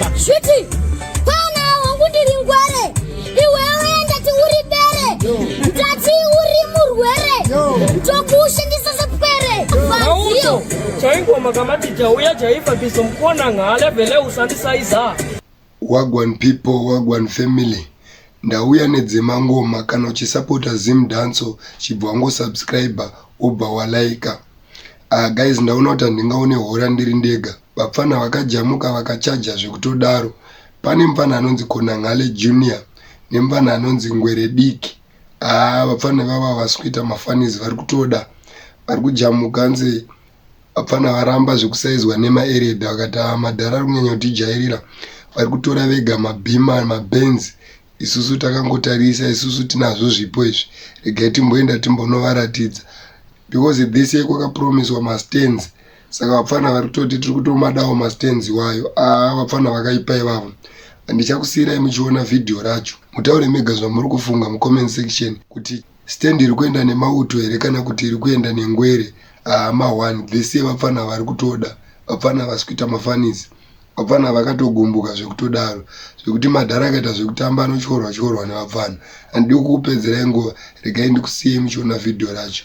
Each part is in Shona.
Shwiti, kwana hongu ndiri ngwere, iwewe ndati uri bere, ndati uri murwere, ndokushandisa sepwere. Mauto, chaingoma kamati jauya jaifa biso mkona ngale vele usandisa iza. Wagwan people, wagwan family. Ndauya nedzema ngoma kana uchisapota Zim Danso chibva wango subscriber ubva walaika. Ah guys ndaona kuti handingaone hora ndiri ndega. Vapfanha vakajamuka vakachaja zvekutodaro. Pane mupfanha anonzi Konanghale Junior nemupfanha anonzi Ngwere Diki. Haa vapfanha ivavo havasi kuita mafanizi vari kutoda. Vari kujamuka nze vapfanha varamba zvekusaizwa nemaeredha vakati haa madhara ari kunyanya kutijairira. Vari kutora vega mabhima mabenzi isusu takangotarisa isusu tinazvo zvipo izvi regai timboenda timbonovaratidza because this year kwakapromiswa mastands saka vapfana vari kutoti tiri kutomadawo mastands iwayo a ah, vapfana vakaipa ivavo handichakusiyirai muchiona vhidhiyo racho mutaure mega zvamuri kufunga mucomment section kuti stand iri kuenda nemauto here kana kuti iri kuenda nengwere haama ah, one vese vapfana vari kutoda vapfana vasi kuita mafanisi vapfana vakatogumbuka zvekutodaro zvekuti madhara akaita zvekutamba anotyorwa tyorwa nevapfana handidi kukupedzerai nguva regai ndikusiyei muchiona vhidhiyo racho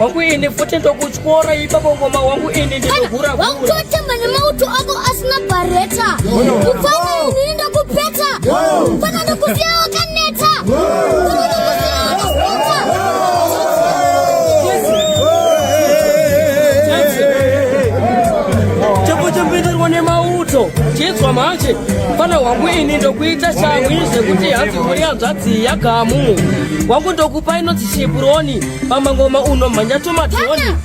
wangu ini futi ndokutyora ipapo ngoma wangu ini ndinohura wakutotamba nemauto ako asina bareta kufana inini ndokupeta kufana ndokusiya wakaneta chekuchimbirirwa nemauto chinzwa manje fana wangu ini ndokuita shamwi zvekuti hanzi kuri hanzvadzi yagamu wangu ndokupa inonzi shipuroni pamangoma uno mhanya tomadhoni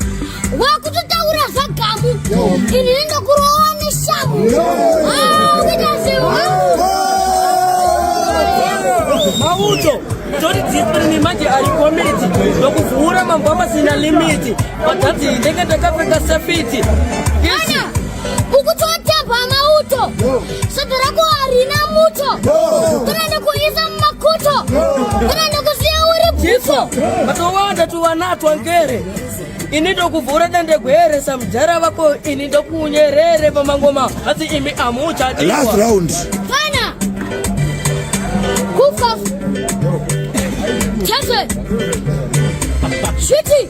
wakutotaura zvagamu ini nendokurowa neshamu uita zvemauto toti dzipiri nemanje ari komiti ndokuvhura mambo amasina limiti padhadzi ndenge ndakapfeka safiti Soto rako harina muto. Kana ndokuisa mumakuto. Kana ndokusiya uri bvifo. Matowanda tuwanatwa ngere. Ini ndokuvhura dande gwere samjara vako ini ndokunyerere pamangoma hati imi amucha diwa. Last round. Fana. Kufa. Chase. Shwiti.